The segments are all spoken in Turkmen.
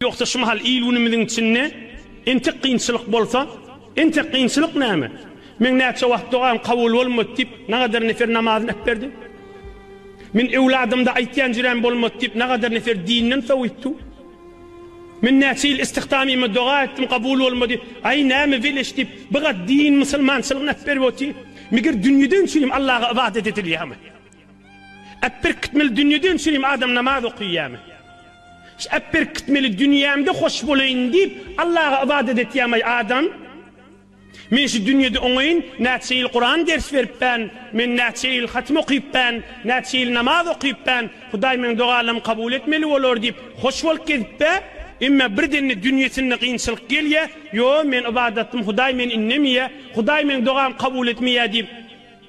Ýogsa şu mahal il-günümiziň içinde entek kynçylyk bolsa, entek kynçylyk näme? Meň näçe wagt dogam kabul bolmady diýip, nagadar nefer namazyny äpberdi? Men öwladymda aýtýan jüräm bolmady diýip, nagadar nefer dinden sowuýupdy? Men näçe ýyl istihdamyma doga etdim, kabul bolmady, aý, näme weleş diýip, bigat din, musulmançylygyny äpberip otyr? Meger dünýeden çüýrem Allaga ybadat edilýärmi? Äpberkitmeli dünýede önçelim adam namaz okyýamy? Şu äpberkitmeli dünýämde hoş bolaýyn diýip Allaga ybadat etýämaý adam? Men şu dünýede oňaýyn näçe ýyl Kuran ders beripbän, men näçe ýyl hatym okypbän, näçe ýyl namaz okypbän, Hudaý meň dogalarym kabul etmeli bolar diýip hoş bolup gezipbe? Emma birdende dünýesinde kynçylyk gelýä, ýo men ybadatym Hudaý meni innemýä, Hudaý meň dogamy kabul etmeýä diýip,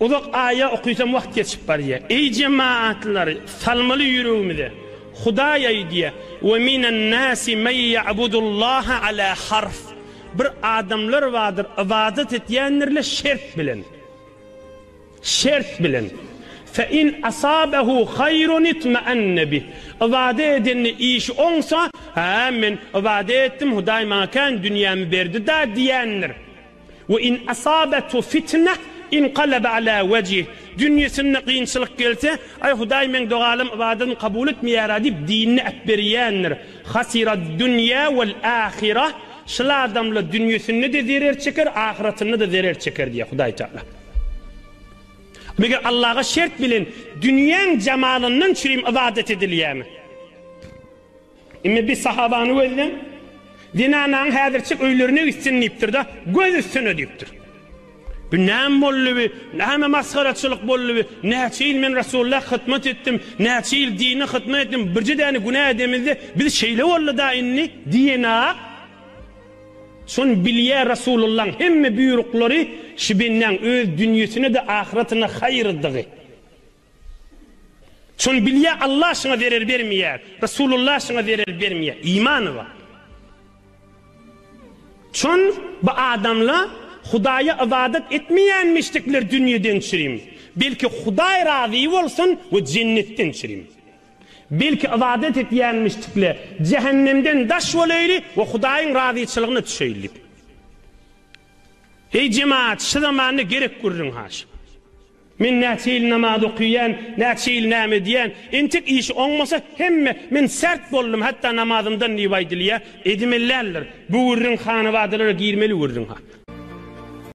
Uzak aýa okysam wagt geçip barýa. Eý jemaatlary salmaly ýüregimize. Hudaý aýdýa, Ve minen nasi men ya'budullaha ala harf. Bir adamlar bardyr ybadat etýändirler şert bilen. Şert bilen. Fe in asabehu haýrun itma'anne bih. Ybadat edende işi oňsa, Haa men ybadat etdim, Hudaý maňa kän dünýämi berdi-da diýendir. Ve in asabetu fitneh inqalebe ala vecih, dünýesinde kynçylyk gelse, Aý, Hudaý meň dogalym, ybadatym kabul etmeýär-ä diýip, dinini äpberýändir. Hasiraddunya vel ahireh, şul adamlar dünýesinde-de zerer çeker, ahyratynda-da zerer çeker diýýär Hudaý Tagala. Meger Allaga şert bilen dünýäň jamalyndan çürim ybadat edilýärmi? Indi biz sahabany gözleň. Zenanaň häzirçik öýlerine gitsin diýipdir-de, göz üstüne diýipdir. Bu näme boldy bi, näme masgaraçylyk boldy bi, näçe ýyl men Resulla hytmat etdim, näçe ýyl dine hytmat etdim, birje däne günä edemizde, biz şeýle boldy-da indi diýenok. Şony bilýä Resulullaň hemme buýruklary şu bendäň öz dünýesine-de ahyratyna haýyrdygy. Şony bilýär Allah şyňa zerer bermeýär Resulullah şyňa zerer bermeýär imany bar. Şon bu adamla Hudaýa ybadat etmeýänmişdikler dünýeden çürim belki Hudaý razy bolsun we jennetden çürim belki ybadat etýänmişdikle jähennemden daş bolaýly we Hudaýyň razyçylygyna düşeýlik. Eý jemaat şy zamanda gerek gürrüň haşy. Men näçe ýyl namaz okyýan, näçe ýyl näme edýän, entek işi oňmasa hemme men sert boldum hatda namazymdan diýip aýdylýar, edimelländir, bu gürrüň hanabadalara girmeli gürrüň ha.